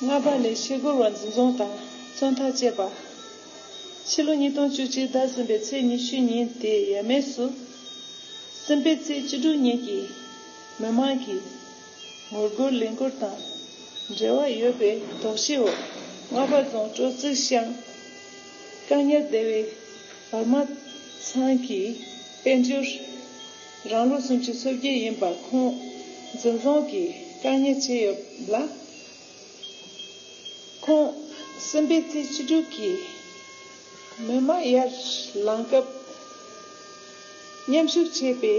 ལྔ་པ་ལས་ཕྱི་སྒོར་བ་འཛིན་བཟུང་དང་བཙོན་ཐག་བཅད་པ། ཕྱི་ལོ་ཉིས་སྟོང་བཅུ་གཅིག་ཟླ་གསུམ་པའི་ཚེས་ཉི་ཤུའི་ཉིན་དེའི་ཡས་མས་སུ། སེམས་དཔའི་རྩེའི་སྤྱི་སྒྲུབ་གཉེར་གྱིས་མི་མང་གིས། ངོ་རྒོལ་ལས་འགུལ་དང་འབྲེལ་བ་ཡོད་པའི་དོགས་གཞིའི་འོག་རྔ་པ་རྫོང་སྤྲོ་ཚིགས་ཤང་བཀག་ཉར་སྡེ་བའི་བར་མ་ཚང་གི་དཔལ་འབྱོར་རང་ལོ་སུམ་ཅུ་སོ་བརྒྱད་ཡིན་པ་ཁོང་འཛིན་བཟུང་གིས་བཀག་ཉར་བྱས་ཡོད་ལ། ཁོང་སེམས་པའི་ཚེ་བཅུ་དྲུག་གི་མོས་མ་ཡར་ལངས་སྐབས་མཉམ་ཞུགས་བྱས་པའི།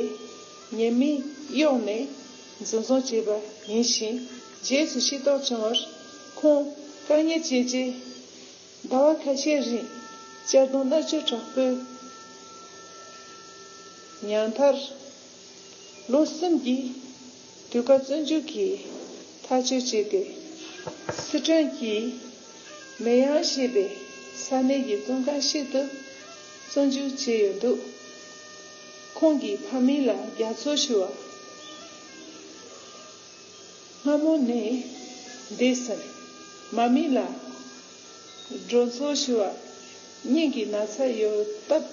ཉེས་མིང་གཡོགས་ནས་འཛིན་བཟུང་བྱས་པ་ཡིན་ཞིང་རྗེས་སུ་ཤེས་རྟོགས་བྱུང་བར་ཁོང་བཀག་ཉར་བྱས་རྗེས་ཟླ་བ་ཁ་ཤས་རིང་གཅར་རྡུང་མནར་གཅོད་དྲག་པོའི་མྱངས་མཐར། ལོ་གསུམ་གྱི་དུས་བཀག་བཙོན་འཇུག་གིས་ཐག་གཅོད་བྱས་ཏེ། སི་ཁྲོན་གྱི་མེ་དབྱང་ཞེས་པའི་ས་གནས་ཀྱི་བཙོན་ཁང་ཞིག་ཏུ་བཙོན་འཇུག་བྱས་ཡོད་འདུག། ཁོང་གི་ཕ་མི་ལ་རྒྱ་མཚོ་ཞུ་བ། སྔ་མོ་ནས་འདས་ཟིན། མ་མི་ལ་སྒྲོ་མཚོ་ཞུ་བ། སྙིང་གི་ན་ཚ་ཡོད་སྟབས།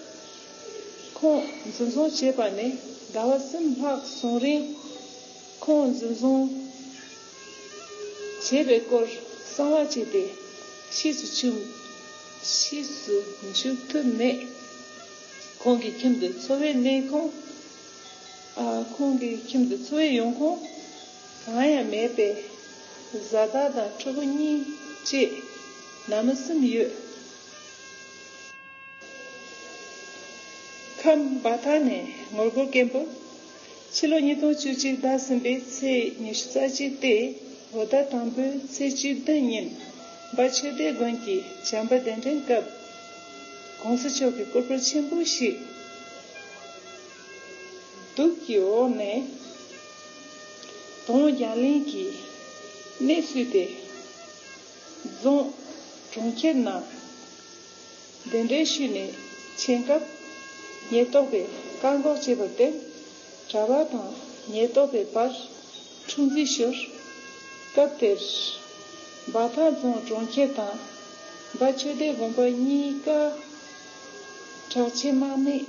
ཁོང་འཛིན་བཟུང་བྱས་པ་ནས་ཟླ་བ་གསུམ་ལྷག་སོང་རིང། ཁོང་འཛིན་བཟུང་བྱས་པའི་སྐོར་གསང་བ་བྱས་ཏེ་ཤེས་སུ་ཆུབ། ཤེས་སུ་འཇུག་ཐུབ་མེད། ཁོང་གི་ཁྱིམ་དུ་འཚོ་བའི་གནས་ཁང། ཁོང་གི་ཁྱིམ་དུ་འཚོ་བའི་ཡོང་ཁུངས་གང་ཡང་མེད་པས། བཟའ་ཟླ་དང་ཕྲུ་གུ་གཉིས་བཅས་ནང་མི་གསུམ་ཡོད། ཁམས་སྦ་ཐང་ནས་ངོ་རྒོལ་སྐད་འབོད། ཕྱི་ལོ་ཉིས་སྟོང་བཅུ་གཅིག་ཟླ་གསུམ་པའི་ཚེས་ཉི་ཤུ་རྩ་གཅིག་སྟེ་ལོ་ཟླ་དང་པོའི་ཚེས་བཅུ་བདུན་ཉིན་སྦ་ཆོས་སྡེ་དགོན་གྱི་བྱམས་པ་གདན་འདྲེན་སྐབས། གོང་ས་མཆོག་གི་སྐུ་པར་ཆེན་པོ་ཞིག་གདུགས་ཀྱི་འོག་ནས་དོང་རྒྱ་གླིང་གི་གནས་བསུས་ཏེ་རྫོང་གྲོང་ཁྱེར་ནང་གདན་འདྲེན་ཞུས་ནས་མཆན་སྐབས་ཉེན་རྟོག་པས་བཀག་འགོག་བྱས་པར་བརྟེན། གྲྭ་པ་དང་ཉེན་རྟོག་པའི་བར་འཁྲུག་འཛིང་ཤོར། སྐབས་དེར། འབའ་ཐང་རྫོང་གྲོང་ཁྱེར་དང་འབའ་ཆོས་སྡེ་དགོན་པ་གཉིས་ཀ་དྲག་ཆས་དམག་མིས་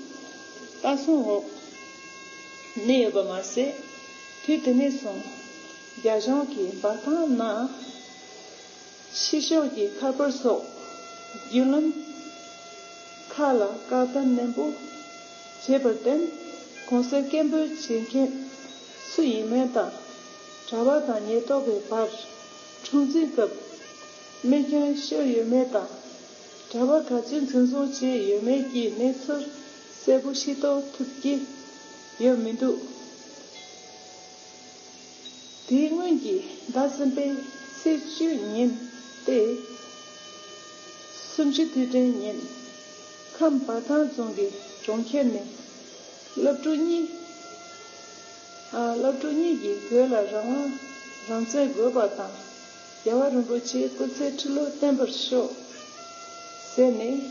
ལྟ་སྲུང་འོག་གནས་ཡོད་པ་མ་ཟད། དུས་དེ་ནས་བཟུང་རྒྱ་གཞུང་གིས་འབའ་ཐང་ནང་ཕྱི་ཕྱོགས་ཀྱི་ཁ་པར་སོགས་བརྒྱུད་ལམ་ཁག་ལ་བཀག་སྡོམ་ནན་པོ་བྱས་པར་བརྟེན་གོང་གསལ་སྐད་འབོད་བྱེད་མཁན་སུ་ཡིན་མིན་དང་གྲྭ་བ་དང་ཉེན་རྟོག་པའི་བར་འཁྲུག་འཛིང་སྐབས་རྨས་སྐྱོན་ཤོར་ཡོད་མེད་དང་གྲྭ་བ་ག་ཚོད་འཛིན་བཟུང་བྱས་ཡོད་མེད་ཀྱི་གནས་ཚུལ་གསལ་པོ་ཤེས་རྟོགས་ཐུབ་ཀྱི་ཡོད་མི་འདུག། དེའི་སྔོན་གྱི་ཟླ་གསུམ་པའི་ཚེས་བཅུ་ཉིན་ཏེ། སུམ་ཅུ་དུས་དྲན་ཉིན། ཁམས་འབའ་ཐང་རྫོང་གི་གྲོང་ཁྱེར་ནས། སློབ་ཕྲུག་གཉིས། སློབ་ཕྲུག་གཉིས་ཀྱིས་བོད་ལ་རང་དབང་རང་བཙན་དགོས་པ་དང། རྒྱལ་བ་རིན་པོ་ཆེའི་སྐུ་ཚེའི་ཁྲི་ལོ་བརྟན་པར་ཤོག། ཟེར་ནས་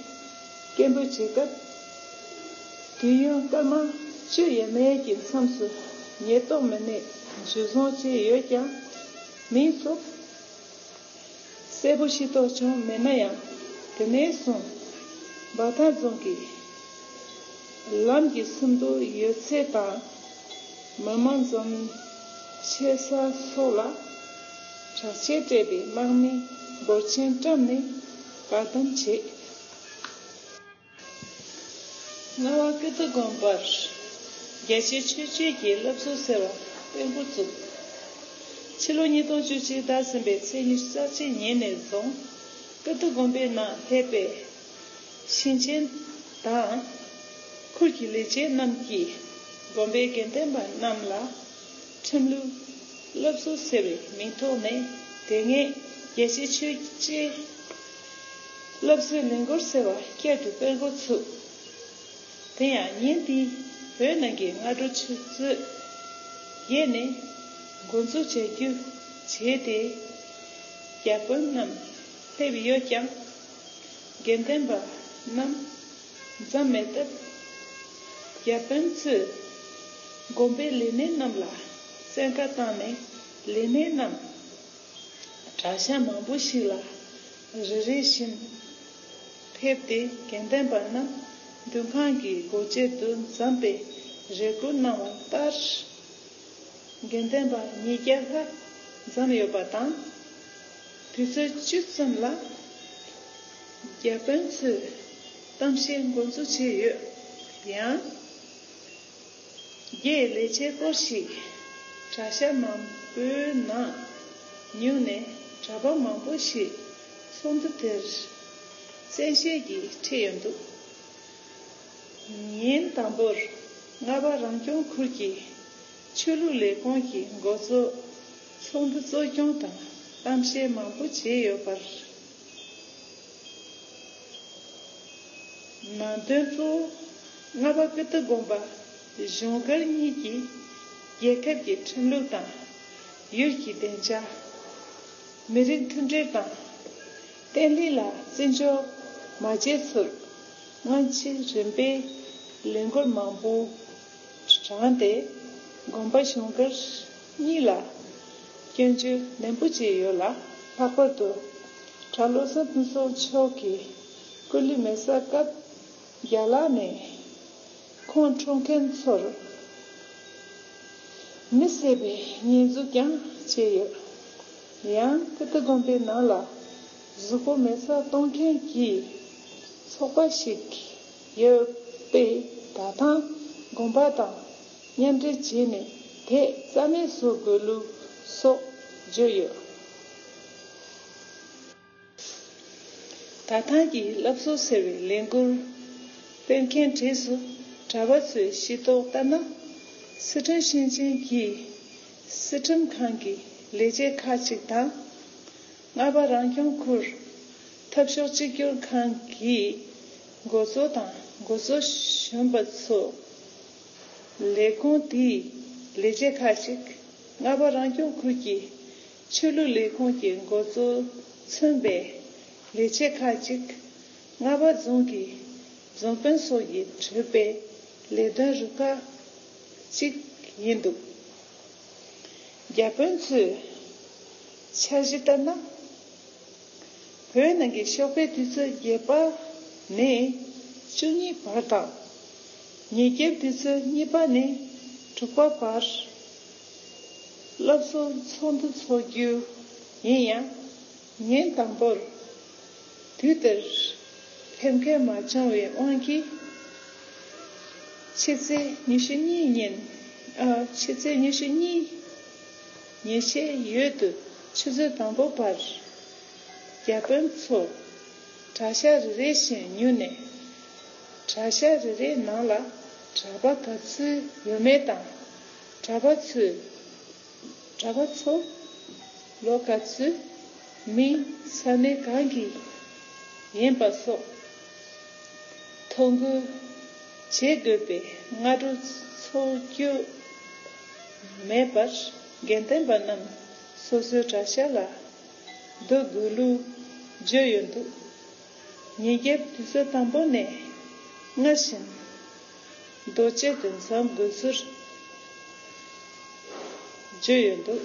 སྐད་འབོད་བྱེད་སྐབས། དུས་ཡུན་སྐར་མ་བཅུ་ཡས་མས་ཀྱི་མཚམས་སུ་ཉེས་རྟོག་མི་སྣས་འཇུ་བཟུང་བྱས་ཡོད་ཀྱང། མིང་ཐོ་གསལ་པོ་ཤེས་རྟོགས་བྱུང་མེད་ན་ཡང། དེ་ནས་བཟུང་འབའ་ཐང་རྫོང་གི། ལམ་གྱི་སུམ་དུ་ཡོད་ཚད་དང། མི་མང་འཛོམས་ཆེ་ས་སོགས་ལ། དྲག་ཆས་སྤྲས་པའི་དམག་མི་འབོར་ཆེན་བཀྲམ་ནས་བཀག་སྡོམ་བྱས། རྔ་བ་ཀིརྟི་དགོན་པར་རྒྱལ་སྤྱིའི་ཆོས་བརྒྱུད་ཀྱི་སློབ་གསོ་ཟེར་བ་སྤེལ་འགོ་བཙུགས། ཕྱི་ལོ་ཉིས་སྟོང་བཅུ་གཅིག་འདས་ཟིན་པའི་ཚེས་ཉེར་གཅིག་ཉིན་ནས་བཟུང་ཀིརྟི་དགོན་པའི་ནང་ཕེབས་པའི། ཞིང་ཆེན་དང། ཁུལ་གྱི་ལས་བྱེད་རྣམས་ཀྱིས་དགོན་པའི་དགེ་ལྡན་པ་རྣམས་ལ། ཁྲིམས་ལུགས་སློབ་གསོ་ཟེར་བའི་མིང་ཐོག་ནས་དེ་སྔའི་རྒྱལ་གཅེས་ཆོས་གཅེས་སློབ་གསོའི་ལས་འགུར་ཟེར་བ་བསྐྱར་དུ་སྤེལ་འགོ་ཚུགས། དེ་ཡང་ཉིན་དེའི་བོད་ནང་གི་སྔ་དྲོ་ཆུ་ཚོད་བརྒྱད་ནས་འགོ་འཛུགས་བྱ་རྒྱུ་བྱས་ཏེ། རྒྱ་དཔོན་རྣམས་སླེབས་ཡོད་ཀྱང། དགེ་ལྡན་པ་རྣམས་འཛམ་མེད་དཔལ། ཡབ་དཔོན་གཙོས་བསྒོམ་པའི་ལས་སྣེ་རྣམས་ལ་བཙན་བཀའ་བཏང་ནས་ལས་སྣེ་རྣམས་གྲྭ་ཤག་མང་པོ་ཞིག་ལ་རེ་རེ་བཞིན་ཕེབས་ཏེ་དགེ་ལྡན་པ་རྣམས་མདུན་ཁང་གི་སྒོ་འབྱེད་དུ་འཛམ་པའི་རེ་སྐུལ་གནང་བ་ལྟར། དགེ་ལྡན་པ་ཉིས་བརྒྱ་ལྷག་འཛོམས་ཡོད་པ་དང། དུས་ཚོད་བཅུ་ཙམ་ལ་རྒྱ་དཔོན་ཚོས་གཏམ་བཤད་མགོ་འཛུགས་བྱས་ཡོད་ཡང། རྒྱའི་ལས་བྱེད་སྐོར་ཞིག་དྲ་ཤ་མང་པོའི་ནང་ཉུལ་ནས་གྲྭ་པ་མང་པོ་ཞིག་ཚོགས་འདུ་དེར་བཙན་ཤེད་ཀྱིས་ཁྲིད་ཡོད་འདུག་ཉིན་དང་པོར་རྔ་པ་རང་སྐྱོང་ཁུལ་གྱི་ཆོས་ལུགས་ལས་ཁུངས་ཀྱི་མགོ་གཙོ་ཚོགས་འདུ་གཙོ་སྐྱོང་དང་གཏམ་བཤད་མང་པོ་བྱས་ཡོད་པར་ནང་དོན་གཙོ་བོ་ལྔ་པ་ཀི་ཏི་དགོན་པ་གཞུང་སྒར་གཉིས་ཀྱིས་རྒྱལ་ཁབ་ཀྱི་ཁྲིམས་ལུགས་དང་ཡུལ་གྱི་བདེ་འཇགས། མི་རིགས་མཐུན་སྒྲིལ་དང་བརྟན་ལྷིང་ལ་བརྩི་འཇོག་མ་བྱས་ཚུར་སྔོན་ཆད་རིམ་པས་ལས་འགུལ་མང་པོ་དྲངས་ཏེ་དགོན་པ་གཞུང་སྒར་གཉིས་ལ། སྐྱོན་བརྗོད་ནན་པོ་བྱས་ཡོད་ལ། ལྷག་པར་དུ། གྲྭ་བློ་བཟང་ཕུན་ཚོགས་མཆོག་གི་སྐུ་ལུས་མེ་བསྲེགས་སྐབས་རྒྱ་ལག་ནས་ཁོང་འཁྲུངས་མཁན་ཚོར་མི་བསད་པའི་ཉེས་འཛུགས་ཀྱང་བྱས་ཡོད། ཡང་ཀིརྟི་དགོན་པའི་ནང་ལ་གཟུགས་པོ་མེ་བསྲེགས་གཏོང་མཁན་གྱི་ཚོགས་པ་ཞིག་ཡོད་པས་ད་ཐང་དགོན་པ་དང། གཉེན་འབྲེལ་བྱས་ནས་དེས་རྩ་མེད་བཟོ་དགོས་ལུགས་སོགས་བརྗོད་ཡོད། དགའ་ཐང་གི་བསླབ་གསོ་ཟེར་བའི་ལས་འགུལ་སྤེལ་མཁན་གྲས་སུ་གྲྭ་བ་ཚོས་ཤེས་རྟོགས་ལྟར་ན། སི་ཁྲོན་ཞིང་ཆེན་གྱི་སྲིད་ཁྲིམས་ཁང་གི་ལས་བྱེད་ཁག་ཅིག་དང། རྔ་པ་རང་སྐྱོང་ཁུལ་འཐབ་ཕྱོགས་གཅིག་གྱུར་ཁང་གི་མགོ་གཙོ་དང་མགོ་གཙོ་གཞོན་པ་ཚོ། ལས་ཁུངས་དེའི་ལས་བྱེད་ཁག་ཅིག་རྔ་པ་རང་སྐྱོང་ཁུལ་གྱི་ཆོས་ལུགས་ལས་ཁུངས་ཀྱི་མགོ་གཙོ་མཚོན་པའི་ལས་བྱེད་ཁག་ཅིག་རྔ་པ་རྫོང་གི་རྫོང་དཔོན་སོགས་ཀྱི་གྲོས་པའི་ལས་དོན་རུ་ཁག་ཅིག་ཡིན་འདུག་རྒྱ་དཔོན་ཚོས་འཆར་གཞི་ལྟར་ན། བོད་ནང་གི་ཞོགས་པའི་དུས་ཚོད་བརྒྱད་པ་ནས་བཅུ་གཉིས་བར་དང། ཉིས་བརྒྱའི་དུས་ཚོད་གཉིས་པ་ནས་དྲུག་པ་བར་སློབ་གསོ་ཚོགས་འདུ་འཚོགས་རྒྱུ་ཡིན་ཡང། ཉིན་དང་པོར་དུས་དེར་ཕེབས་མཁན་མ་བྱུང་བའི་དབང་གིས། ཕྱི་ཚེས་ཉི་ཤུ་གཉིས་ཉིན། ཕྱི་ཚེས་ཉི་ཤུ་གཉིས། ཉེས་ཆད་ཡོད་དུ་ཆུ་ཚོད་དང་པོ་བར། རྒྱ་དཔོན་ཚོ་གྲྭ་ཤག་རེ་རེ་བཞིན་ཉུལ་ནས། གྲྭ་ཤག་རེ་རེའི་ནང་ལ་གྲྭ་པ་ག་ཚོད་ཡོད་མེད་དང། གྲྭ་པ་ཚོས། གྲྭ་པ་ཚོ། ལོ་ག་ཚོད། མིན། ས་གནས་གང་གི། ཡིན་པ་སོགས། ཐོ་འགོད། བྱེད་དགོས་པའི་སྔ་དྲོ་ཚོགས་རྒྱུ། མེད་པར་དགེ་ལྡན་པ་རྣམས་སོ་སོའི་གྲྭ་ཤག་ལ་སྡོད་དགོས་ལུགས་བརྗོད་ཡོད་འདུག་ཉིན་རྒྱབ་དུས་ཚོད་དང་པོ་ནས་སྔར་བཞིན་རྡོ་གཅལ་དུ་འཛོམས་དགོས་ཚུལ་བརྗོད་ཡོད་འདུག།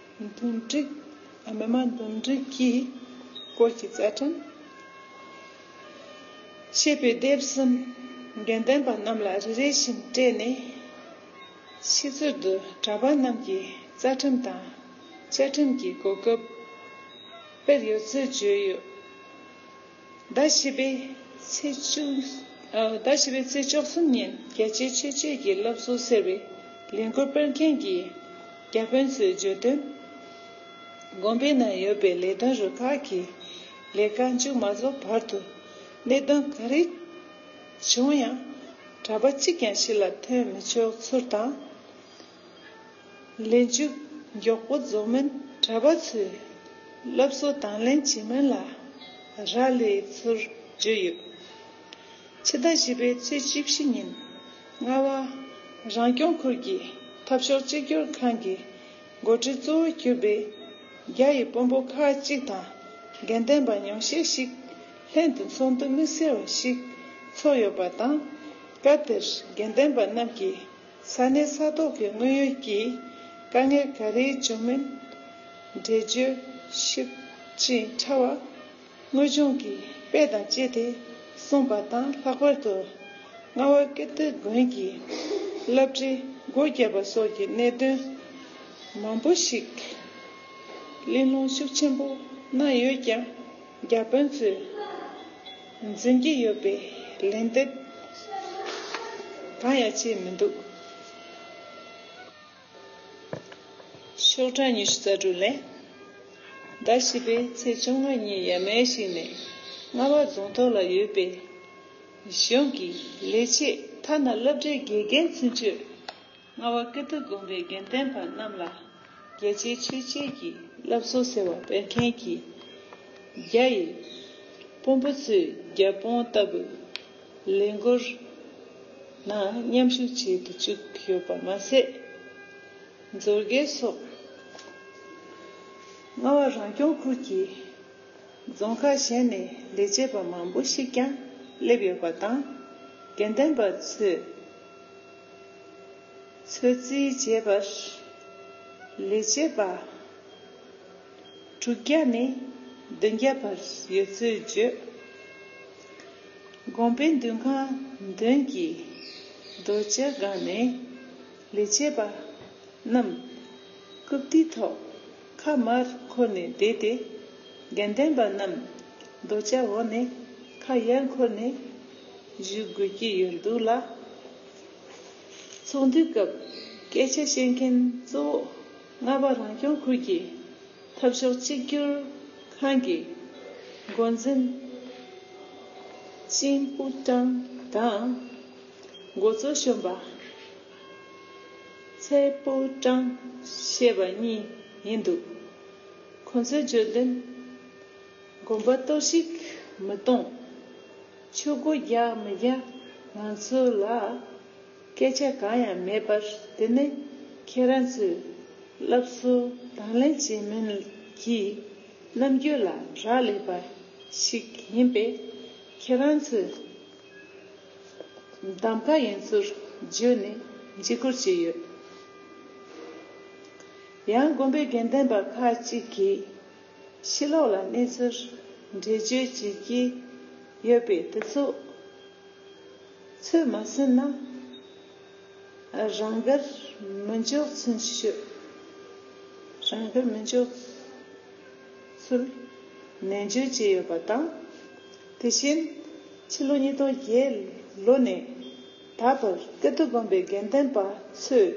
འདུམ་འགྲིག། མི་དམངས་འདུམ་འགྲིག་གི་སྐོར་གྱི་རྩ་ཁྲིམས། ཞེས་པའི་དེབ་གསུམ་དགེ་ལྡན་པ་རྣམས་ལ་རེ་རེ་བཞིན་སྤྲད་ནས། ཕྱི་ཚུལ་དུ་གྲྭ་པ་རྣམས་ཀྱི་རྩ་ཁྲིམས་དང་བཅའ་ཁྲིམས་ཀྱི་གོ་སྐབས་དཔེར་ཡོད་ཚུལ་བརྗོད་ཡོད། ཟླ་བཞི་པའི་ཚེས་བཅོ་གསུམ་ཉིན་རྒྱལ་གཅེས་ཆོས་གཅེས་ཀྱི་སློབ་གསོ་ཟེར་བའི་ལས་འགུལ་སྤེལ་མཁན་གྱི་རྒྱ་དཔོན་ཚོའི་བརྗོད་དོན། དགོན་པའི་ནང་ཡོད་པའི་ལས་དོན་རུ་ཁག་གི་ལས་ཀ་མཇུག་མ་རྫོགས་བར་དུ་གནད་དོན་ག་རེ་བྱུང་ཡང་གྲྭ་པ་གཅིག་ཀྱང་ཕྱི་ལ་ཐོན་མི་ཆོག་ཚུལ་དང། ལས་མཇུག་མགྱོགས་པོ་རྫོགས་མིན་གྲྭ་པ་ཚོས་སློབ་གསོ་དང་ལེན་བྱེད་མིན་ལ་རག་ལས་ཚུལ་བརྗོད་ཡོད། ཕྱི་ཟླ་བཞི་པའི་ཚེས་བཅུ་བཞི་ཉིན་རྔ་བ་རང་སྐྱོང་ཁུལ་གྱི་འཐབ་ཕྱོགས་གཅིག་གྱུར་ཁང་གི་འགོ་ཁྲིད་གཙོ་བོ་གྱུར་པའི་རྒྱ་ཡི་དཔོན་པོ་ཁག་གཅིག་དང་དགེ་ལྡན་པ་ཉུང་ཤས་ཤིག་ལྷན་དུ་ཚོགས་འདུ་མི་སེར་བ་ཞིག་ཚོགས་ཡོད་པ་དང། སྐབས་དེར་དགེ་ལྡན་པ་རྣམས་ཀྱིས་ས་གནས་ས་ཐོག་གི་དངོས་ཡོད་ཀྱི་དཀའ་ངལ་ག་རེའི་འབྱུང་མིན་འགྲེལ་བརྗོད་ཞིབ་ཅིང་ཕྲ་བ། དངོས་བྱུང་གི་དཔེ་དང་བཅས་ཏེ་གསུངས་པ་དང་ལྷག་པར་དུ་རྔ་བ་ཀིརྟི་དགོན་གྱི་བསླབ་བྱའི་སྒོ་བརྒྱབ་པ་སོགས་ཀྱི་གནད་དོན་མང་པོ་ཞིག་གླེང་སློང་ཤུགས་ཆེན་པོ་གནང་ཡོད་ཀྱང་རྒྱ་དཔོན་ཚོས། འཛིན་གྱི་ཡོད་པའི་ལན་འདེབས་གང་ཡང་བྱས་མི་འདུག་ཤོག་གྲངས་ཉི་ཤུ་རྩ་དྲུག་ལས། ཟླ་བཞི་པའི་ཚེས་བཅོ་ལྔ་ཉིན་ཡ་མན་ཞིག་ནས་རྔ་བ་རྫོང་ཐོག་ལ་ཡོད་པའི་གཞུང་གི་ལས་བྱེད་ཐ་ན་སློབ་གྲྭའི་དགེ་རྒན་ཚུན་ཆོད་ལྔ་བ་ཀིརྟི་དགོན་པའི་དགེ་ལྡན་པ་རྣམས་ལ་རྒྱལ་སྤྱིའི་ཆོས་བརྒྱུད་ཀྱི་བསླབ་གསོ་ཟེར་བ་སྤེལ་མཁན་གྱི་རྒྱ་ཡི་དཔོན་པོ་ཚོས་རྒྱ་དཔོན་ལྟ་བུའི་ལས་འགུལ་ནང་མཉམ་ཞུགས་བྱེད་དུ་བཅུག་ཡོད་པ་མ་ཟད། མཛོད་དགེ་སོགས་རྔ་བ་རང་སྐྱོང་ཁུལ་གྱི་རྫོང་ཁག་གཞན་ནས་ལས་བྱེད་པ་མང་པོ་ཞིག་ཀྱང་སླེབས་ཡོད་པ་དང། དགེ་ལྡན་པ་ཚོས། ཚོད་རྩིས་བྱེད་པ། ལས་བྱེད་པ། དྲུག་བརྒྱ་ནས་བདུན་བརྒྱ་བར་ཡོད་ཚུལ་བརྗོད། དགོན་པའི་འདུན་ཁང་མདུན་གྱི་རྡོ་གཅལ་སྒང་ནས་ལས་བྱེད་པ་རྣམས་རྐུབ་སྟེགས་ཐོག་ཁ་དམར་འཁོར་ནས་བསྡད་དེ། དགེ་ལྡན་པ་རྣམས་རྡོ་གཅལ་འོག་ནས་ཁ་ཡར་འཁོར་ནས་ཞུ་དགོས་ཀྱི་ཡོད་འདུག་ལ། ཚོགས་འདུའི་སྐབས་སྐད་ཆ་བཤད་མཁན་གཙོ་བོ་རྔ་པ་རང་སྐྱོང་ཁུལ་གྱི་འཐབ་ཕྱོགས་གཅིག་གྱུར་ཁང་གི་འགོ་འཛིན་ཅིང་པུ་ཀྲང་དང། འགོ་གཙོ་གཞོན་པ་ཚའེ་པུའུ་ཀྲང་ཞེས་པ་གཉིས་ཡིན་འདུག་ཁོ་ཚོའི་བརྗོད་དོན། དགོན་པ་གཏོར་བཤིག་མི་གཏོང། ཆོས་སྒོ་རྒྱག་མི་རྒྱག་ང་ཚོ་ལ་སྐད་ཆ་གང་ཡང་མེད་པར་དེ་ནི་ཁྱེད་རང་ཚོས་སླབ་གསོ་དང་ལེན་བྱེད་མིན་གྱི་རྣམ་འགྱུར་ལ་རག་ལས་པ་ཞིག་ཡིན་པས་ཁྱེད་རང་ཚོས་གདམ་ག་ཡིན་ཚུལ་བརྗོད་ནས་འཇིགས་སྐུལ་བྱས་ཡོད། ཡང་དགོན་པའི་དགེ་ལྡན་པ་ཁག་ཅིག་གིས། ཕྱི་ལོགས་ལ་གནས་ཚུལ་འགྲེལ་བརྗོད་བྱེད་ཀྱི་ཡོད་པས་དེ་ཚོ་ཚོད་མ་ཟིན་ན་རང་དགར་མི་འཇོག་ཚུལ་ཤོད། རང་དགར་མི་འཇོག་ཚུལ་ནན་བརྗོད་བྱས་ཡོད་པ་དང། དེ་བཞིན་ཕྱི་ལོ་ཉིས་སྟོང་བརྒྱད་ལོ་ནས་ད་བར་སྐད་དོད་སྒོམ་པའི་དགེ་ལྡན་པ་ཚོས་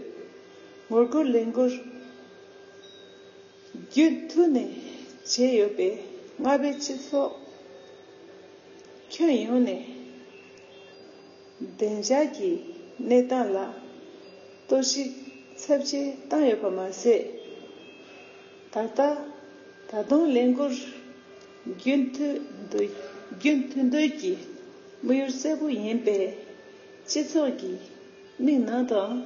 ངོ་རྒོལ་ལས་འགུལ་རྒྱུན་མཐུད་ནས་བྱས་ཡོད་པས་རྔ་པའི་སྤྱི་ཚོགས་ཁྱོན་ཡོངས་ནས་བདེ་འཇགས་ཀྱི་གནས་སྟངས་ལ་གཏོར་བཤིག་ཚབས་ཆེ་བཏང་ཡོད་པ་མ་ཟད། ད་ལྟ་ད་དུང་ལས་འགུལ་རྒྱུན་མཐུད་འདོད་ཀྱི་དམིགས་ཡུལ་གསལ་པོ་ཡིན་པས་སྤྱི་ཚོགས་ཀྱི་མིག་ནང་དུའང།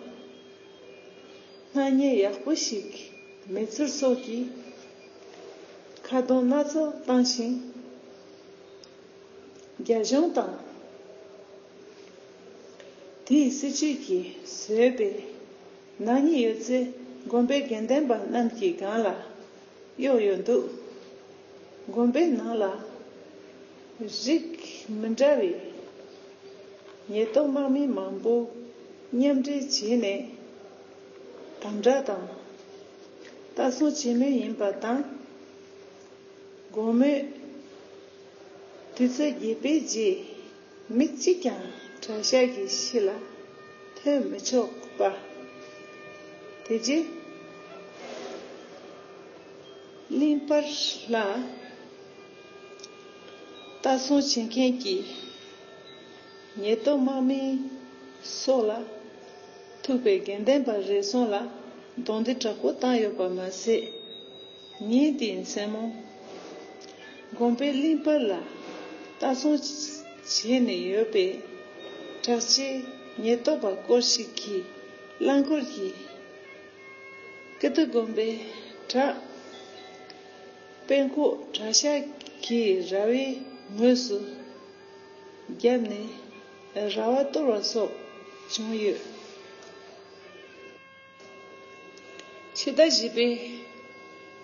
སྣ་བརྙན་ཡག་པོ་ཞིག་མེད་ཚུལ་སོགས་ཀྱི་ཁ་རྡུང་སྣ་ཚོགས་བཏང་ཞིང། རྒྱ་གཞུང་དང་དེའི་སྲིད་ཇུས་ཀྱིས་བཟོས་པའི་ནག་ཉེས་ཡོད་ཚད་དགོན་པའི་དགེ་ལྡན་པ་རྣམས་ཀྱི་སྒང་ལ་གཡོག་ཡོད་འདུག་དགོན་པའི་ནང་ལ། རིགས་མི་འདྲ་བའི་ཉེས་རྟོག་དམག་མི་མང་པོ་མཉམ་འབྲེལ་བྱས་ནས་དམ་བསྒྲགས་དང་ལྟ་སྲུང་བྱེད་མུས་ཡིན་པ་དང། དགོང་མོའི་དུས་ཚོད་བརྒྱད་པའི་རྗེས། མི་གཅིག་ཀྱང་གྲྭ་ཤག་གི་གཞི་ལ་ཐོན་མི་ཆོག་པ། དེ་རྗེས་གླིང་དཔར་ལ་ལྟ་སྲུང་བྱེད་མཁན་གྱི་ཉེས་རྡོ་དམག་མི་སོགས་ལ་ཐུག་པའི་དགེ་ལྡན་པ་རེ་ཟུང་ལ་རྡུང་རྡེག་དྲག་པོ་བཏང་ཡོད་པ་མ་ཟད། ཉིད་དེའི་མཚན་མོ། དགོན་པའི་གླིང་བར་ལ་ལྟ་སྲུང་བྱས་ནས་ཡོད་པའི་གྲགས་ཆེའི་ཉེན་རྟོག་པ་སྐོར་ཞིག་གིས་རླངས་འཁོར་གྱིས་ཀི་ཏུ་དགོན་པའི་བྲག་དཔེ་འཁོག་གྲྭ་ཤག་གི་ར་བའི་ངོས་སུ་བརྒྱབ་ནས་ར་བ་གཏོར་བ་སོགས་བྱུང་ཡོད། ཕྱི་ཟླ་བཞི་པའི་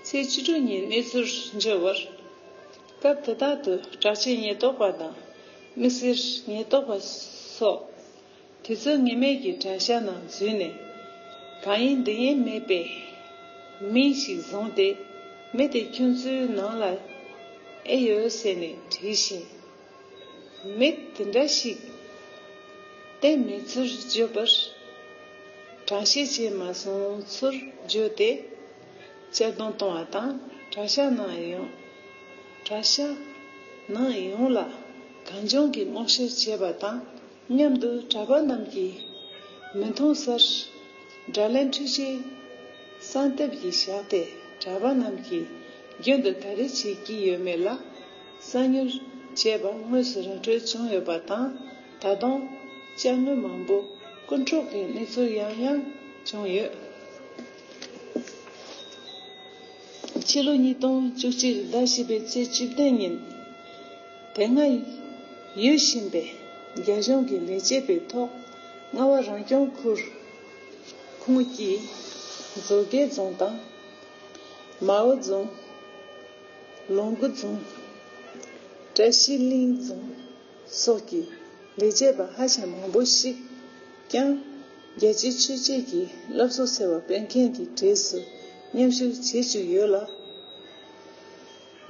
ཚེས་བཅུ་དྲུག་ཉིན་གནས་ཚུལ་འབྱོར་བར། སྐབས་དེ་དག་ཏུ་གྲགས་ཅན་ཉེན་རྟོག་པ་དང་མི་སེར་ཉེན་རྟོག་པ་སོགས་དུས་ཚོད་ངེས་མེད་ཀྱི་དྲན་ཤ་ནང་འཛུལ་ནས། གང་ཡིན་འདི་ཡིན་མེད་པའི་མི་ཞིག་བཟུང་སྟེ་མི་དེ་ཁྱོད་ཚོའི་ནང་ལ་ཨེ་ཡོད་ཟེར་ནས་དྲིས་ཤིང། མི་དེ་འདྲ་ཞིག་གཏན་མེད་ཚུར་བརྗོད་པར་གྲངས་བཤད་བྱས་མ་སོང་ཚུར་བརྗོད་དེ་གཅར་རྡུང་གཏོང་བ་དང་གྲྭ་ཤག་ནང་ཡོང་གྲྭ་ཤག་ནང་ཡོང་ལ་གངས་ལྗོངས་ཀྱི་སྔོག་བཤེར་བྱས་པ་དང་མཉམ་དུ་གྲྭ་པ་རྣམས་ཀྱིས་མི་མཐོང་སར་དགྲ་ལན་འཕྲུལ་ཆས་གསང་སྟབས་ཀྱིས་བཞག་སྟེ་གྲྭ་པ་རྣམས་ཀྱི་རྒྱུན་དུ་ག་རེ་བྱེད་ཀྱི་ཡོད་མེད་ལ། གསང་མྱུལ། ཅེས་པ་དངོས་སུ་ར་འཕྲོད་བྱུང་ཡོད་པ་དང། ད་དུང། དཔྱ་དངུལ་མང་པོ་རྐུ་འཕྲོག་གི་གནས་ཚུལ་ཡང་ཡང་བྱུང་ཡོད། ཕྱི་ལོ་ཉིས་སྟོང་བཅུ་གཅིག་ཟླ་བཞི་པའི་ཚེས་བཅུ་བདུན་ཉིན། དེ་སྔ་ཡོད་བཞིན་པའི་རྒྱ་གཞུང་གི་ལས་བྱེད་པའི་ཐོག་རྔ་བ་རང་སྐྱོང་ཁུལ་ཁུངས་སྐྱེལ་མཛོད་དགེ་རྫོང་དང། མའོ་རྫོང། ལུང་གུ་རྫོང། བཀྲ་ཤིས་གླིང་རྫོང། སོགས་ཀྱི་ལས་བྱེད་པ་ཧ་ཅང་མང་པོ་ཞིག་ཀྱང། རྒྱལ་སྤྱིའི་ཆོས་བྱེད་ཀྱི་བསླབ་གསོ་ཟེར་བ་སྤེལ་མཁན་གྱི་གྲས་སུ་མཉམ་ཞུགས་བྱེད་བཅུག་ཡོད་ལ།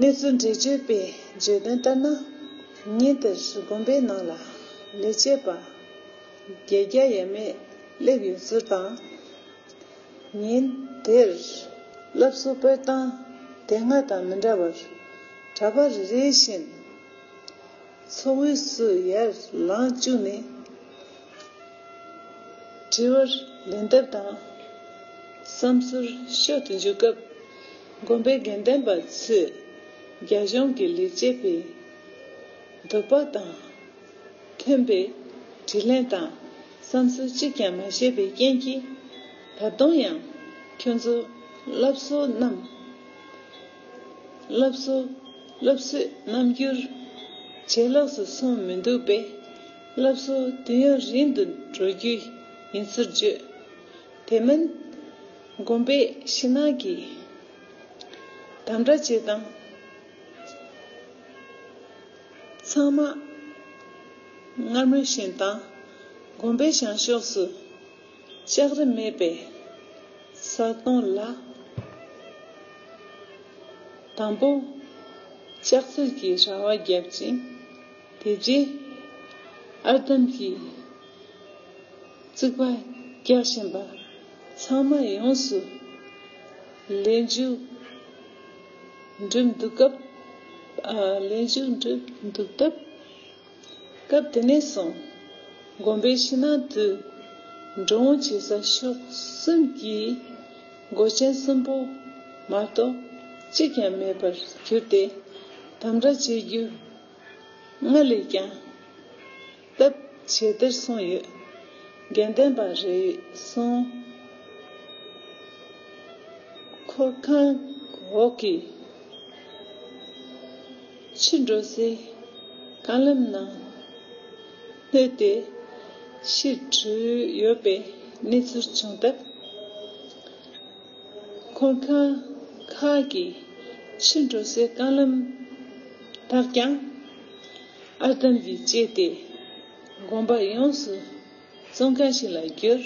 གནས་ཚུལ་འགྲེལ་བརྗོད་པས་བརྗོད་དོན་ལྟར་ན། ཉིན་དེར་དགོན་པའི་ནང་ལ་ལས་བྱེད་པ་བརྒྱད་བརྒྱ་ཡས་མས་སླེབས་ཡོད་ཚུལ་དང། ཉིན་དེར། སློབ་གསོ་སྤེལ་སྟངས་དེ་སྔ་དང་མི་འདྲ་བར། གྲྭ་པ་རེ་རེ་བཞིན་འཚོ་བའི་སུ་ཡར་ལངས་བཅུག་ནས། དྲི་བར་ལན་བཏབ་དང། བསམ་ཚུལ་ཤོད་དུ་འཇུག་སྐབས། དགོན་པའི་དགེ་ལྡན་པ་ཚོས་རྒྱ་གཞུང་གི་ལས་བྱེད་པའི་འདོད་པ་དང། ཐོན་པའི་དྲིས་ལན་དང་བསམ་ཚུལ་གཅིག་ཀྱང་མ་བཤད་པའི་རྐྱེན་གྱིས། ད་དུང་ཡང་ཁྱོད་ཚོ་སློབ་གསོ་རྣམས། སློབ་གསོ་སློབ་གསོས་རྣམ་འགྱུར། ཇེ་ལོགས་སུ་སོང་མི་འདུག་པས། སློབ་གསོ་དུས་ཡུན་རིང་དུ་འགྲོ་རྒྱུ་ཡིན་ཚུལ་བརྗོད། དེ་མིན། དགོན་པའི་ཕྱི་ནང་གི་དམ་དྲག་བྱེད་སྟངས། ཚང་མ་སྔར་མུས་བཞིན་དང་དགོན་པའི་བྱང་ཕྱོགས་སུ་ལྕགས་རི་མེད་པའི་ས་སྟོང་ལ། དང་པོ་ལྕགས་རྩེར་གྱི་ར་བ་བརྒྱབ་ཅིང་དེ་རྗེས་ཨར་འདམ་གྱི་རྩིག་པ་རྒྱག་བཞིན་པ་ཚང་མ་ཡོངས་སུ་ལེན་རྒྱུ། འགྲིམས་འདུག་སྐབས། ལས་ཞུགས་འགྲིམས་འདུག་སྟབས། སྐབས་དེ་ནས་བཟུང། དགོན་པའི་ཕྱི་ནང་དུ། འགྲོ་འོང་བྱེད་ས་ཕྱོགས་གསུམ་གྱི། སྒོ་ཆེན་གསུམ་པོ་མ་གཏོགས་གཅིག་ཀྱང་མེད་པར་གྱུར་ཏེ། དམ་དྲག་བྱེད་རྒྱུ་སྔར་ལས་ཀྱང། སྟབས་བྱེད་དེར་གསུངས་ཡོད། དགེ་ལྡན་པ་རེ་ཟུང་འཁོར་ཁང་འོག་གི་ཕྱི་འགྲོ་སའི་རྐང་ལམ་ནང་བསྣོལ་ཏེ་ཕྱིར་བྲོས་ཡོད་པའི་གནས་ཚུལ་བྱུང་སྟབས། འཁོར་ཁང་ཁག་གི་ཕྱི་འགྲོ་སའི་རྐང་ལམ་དག་ཀྱང། ཨར་འདམ་གྱིས་བཅད་དེ་དགོན་པ་ཡོངས་སུ་བཙོང་མཁན་ཞིག་ལ་གྱུར།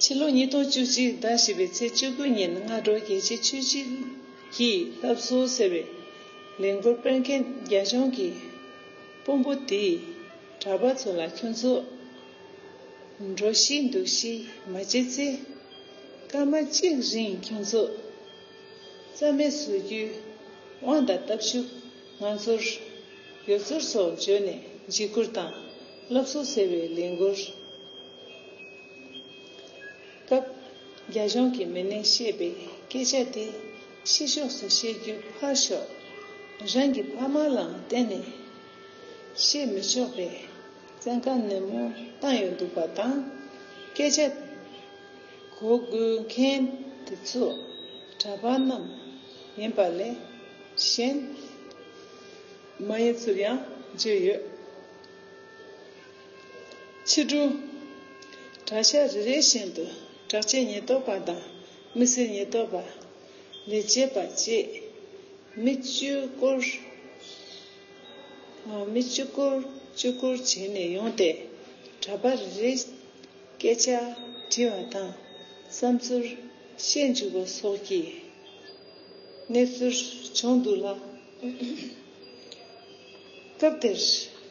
ཕྱི་ལོ་ཉིས་སྟོང་བཅུ་གཅིག་ཟླ་བཞི་པའི་ཚེས་བཅུ་དགུ་ཉིན་སྔ་དྲོ་རྒྱལ་གཅེས་ཆོས་གཅེས་ཀྱིས་བསླབ་གསོ་ཟེར་བའི་ལས་མགོ་སྤེལ་མཁན་རྒྱ་གཞུང་གི་དཔོན་པོ་དེས་གྲྭ་པ་ཚོ་ལ་ཁྱོད་ཚོ་འགྲོ་ཤེས་འདུག་ཤེས་མ་བྱེད་ཚེ་སྐར་མ་གཅིག་རིང་ཁྱོད་ཚོ་རྩ་མེད་བཟོ་རྒྱུའི་དབང་དང་སྟབས་ཤུགས་ང་ཚོར་ཡོད་ཚུལ་སོགས་བརྗོད་ནས་འཇིགས་སྐུལ་དང་སློབ་གསོ་ཟེར་བའི་ལས་འགུལ་སྐབས། རྒྱ་གཞུང་གི་མི་སྣས་བཤད་པའི་སྐད་ཆ་དེ་ཕྱི་ཕྱོགས་སུ་བཤད་རྒྱུ་ཕར་ཞོག་རང་གི་ཕ་མ་ལའང་གཏན་ནས་བཤད་མི་ཆོག་པའི་བཙན་བཀའ་ནན་མོ་བཏང་ཡོད་འདུག་པ་དང་སྐད་ཆ་གོ་བགོས་མཁན་དེ་ཚོ་གྲྭ་པ་རྣམས་ཡིན་པ་ལས་གཞན་མ་ཡིན་ཚུར་ཡང་བརྗོད་ཡོད། ཕྱི་དྲོ་གྲྭ་ཤག་རེ་རེ་བཞིན་དུ་དྲག་ཆས་ཉེན་རྟོག་པ་དང་མི་སེར་ཉེན་རྟོག་པ། ལས་བྱེད་པ་བཅས་མི་བཅུ་སྐོར་བཅུ་སྐོར་བཅུ་སྐོར་བྱས་ནས་ཡོང་སྟེ་གྲྭ་པ་རེ་རེ། སྐད་ཆ་དྲི་བ་དང་བསམ་ཚུལ་བཤད་འཇུག་པ་སོགས་ཀྱི་གནས་ཚུལ་བྱུང་འདུག་ལ། སྐབས་དེར་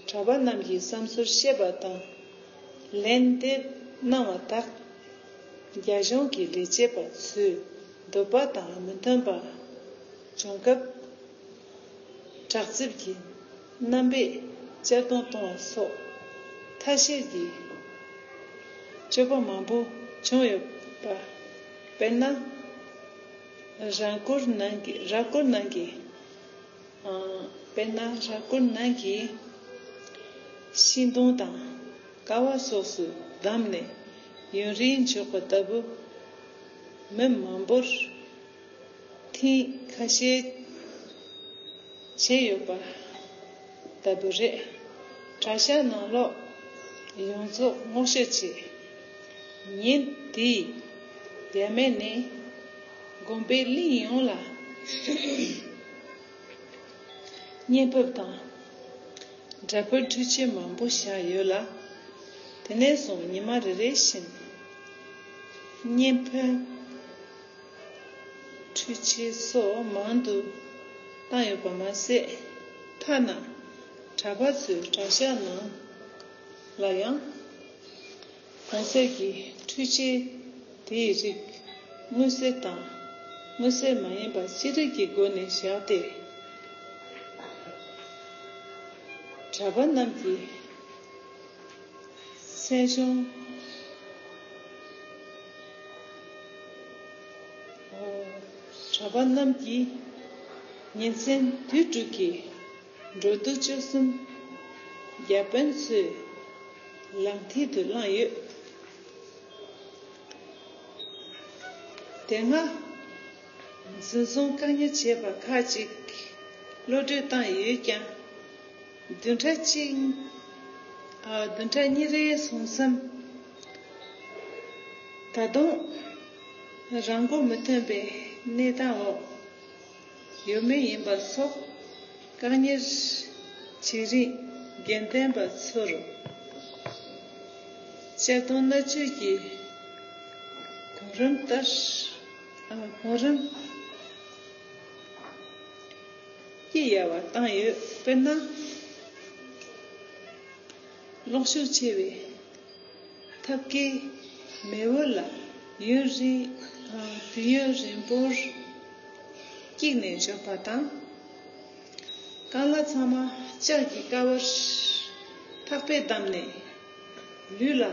གྲྭ་པ་རྣམས་ཀྱིས་བསམ་ཚུལ་བཤད་པ་དང་ལན་འདེབས་གནང་བ་དག་རྒྱ་གཞུང་གི་ལས་བྱེད་པ་ཚོའི་འདོད་པ་དང་མི་མཐུན་པ་བྱུང་སྐབས། བྲག་རྩིབས་ཀྱི། རྣམ་པས་གཅར་རྡུང་གཏོང་བ་སོགས་ཐ་ཤལ་གྱི་སྤྱོད་པ་མང་པོ་བྱུང་ཡོད་པ། དཔེར་ན། རྭ་སྐོར་ནང་གི་རྭ་སྐོར་ནང་གི། དཔེར་ན་རྭ་སྐོར་ནང་གི་ཤིང་སྡོང་དང་ཀ་བ་སོགས་སུ་བསྡམས་ནས་ཡུན་རིང་འཇོག་པ་ལྟ་བུ། མི་མང་པོར་ཐེངས་ཁ་ཤས་བྱས་ཡོད་པ་ལྟ་བུ་རེད། གྲྭ་ཤག་ནང་ལོག་ཡོངས་རྫོགས་བསྔོག་བཤེར་བྱས། ཉིན་དེའི་ཡར་སྨད་ནས་དགོན་པའི་གླིང་ཡོངས་ལ་བརྙན་ཕབ་དང་སྒྲ་ཕབ་འཕྲུལ་ཆས་མང་པོ་བཞག་ཡོད་ལ། དེ་ནས་བཟུང་ཉི་མ་རེ་རེ་བཞིན་བརྙན་ཕབ། འཕྲུལ་ཆས་སོགས་མང་དུ་བཏང་ཡོད་པ་མ་ཟད། མཐའ་ན་གྲྭ་པ་ཚོའི་གྲྭ་ཤག་ནང་ལ་ཡང་གོང་གསལ་གྱི་འཕྲུལ་ཆས་དེའི་རིགས་དངོས་གསལ་དང་དངོས་གསལ་མ་ཡིན་པ་ཅི་རིགས་ཀྱི་སྒོ་ནས་བཞག་སྟེ། གྲྭ་པ་རྣམས་ཀྱི་སེམས་གཞུང། གྲྭ་པ་རྣམས་ཀྱིས་ཉིན་མཚན་དུས་དྲུག་གི་འགྲོ་འདུག་སྤྱོད་གསུམ་རྒྱ་དཔོན་ཚོའི་ལག་མཐིལ་དུ་བླངས་ཡོད། དེ་སྔ་འཛིན་བཟུང་བཀག་ཉར་བྱས་པ་ཁག་ཅིག་གློད་བཀྲོལ་བཏང་ཡོད་ཀྱང། བདུན་ཕྲག་གཉིས་རེའི་ཟུང་ཟམ། ད་དུང་རང་མགོ་མི་ཐོན་པའི་གནས་སྟངས་འོག་ཡོད་མུས་ཡིན་པ་སོགས་བཀག་ཉར་བྱེད་རིང་དགེ་ལྡན་པ་ཚོར་གཅར་རྡུང་མནར་གཅོད་ཀྱི་གོང་རིམ་ལྟར་གོང་རིམ་སྐྱི་གཡའ་བ་བཏང་ཡོད། དཔེར་ན། གློག་ཤུགས་ཆེ་བའི་ཐབ་ཀའི་མེ་འོད་ལ་ཡུན་རིང་དང་དུས་ཡུན་རིང་པོར་བཀྱིགས་ནས་འཇོག་པ་དང། རྐང་གླ་ཚང་མ་ལྕགས་ཀྱི་ཀ་བར་ཐག་པས་བསྡམས་ནས་ལུས་ལ་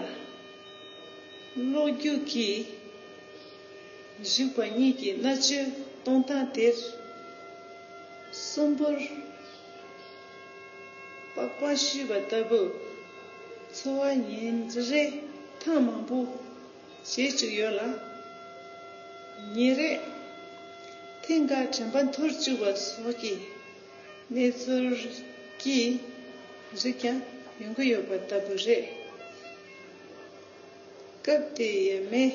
གློག་རྒྱུག་གིས་གཞུག་པ་གཉིས་ཀྱི་མནར་གཅོད་གཏོང་སྟངས་དེ་གསུམ་པོར། པགས་པ་བཤུས་པ་ལྟ་བུ། འཚོ་བ་ཉིན་རེ་ཐེངས་མང་པོ་བྱེད་བཅུག་ཡོད་ལ། ཉིན་རེ་ཐེངས་འགའ་དྲན་པ་འཐོར་བཅུག་པ་སོགས་ཀྱི་གནས་ཚུལ་གྱི་རིགས་ཀྱང་ཡོང་གི་ཡོད་པ་ལྟ་བུ་རེད། སྐབས་དེའི་ཡས་མས།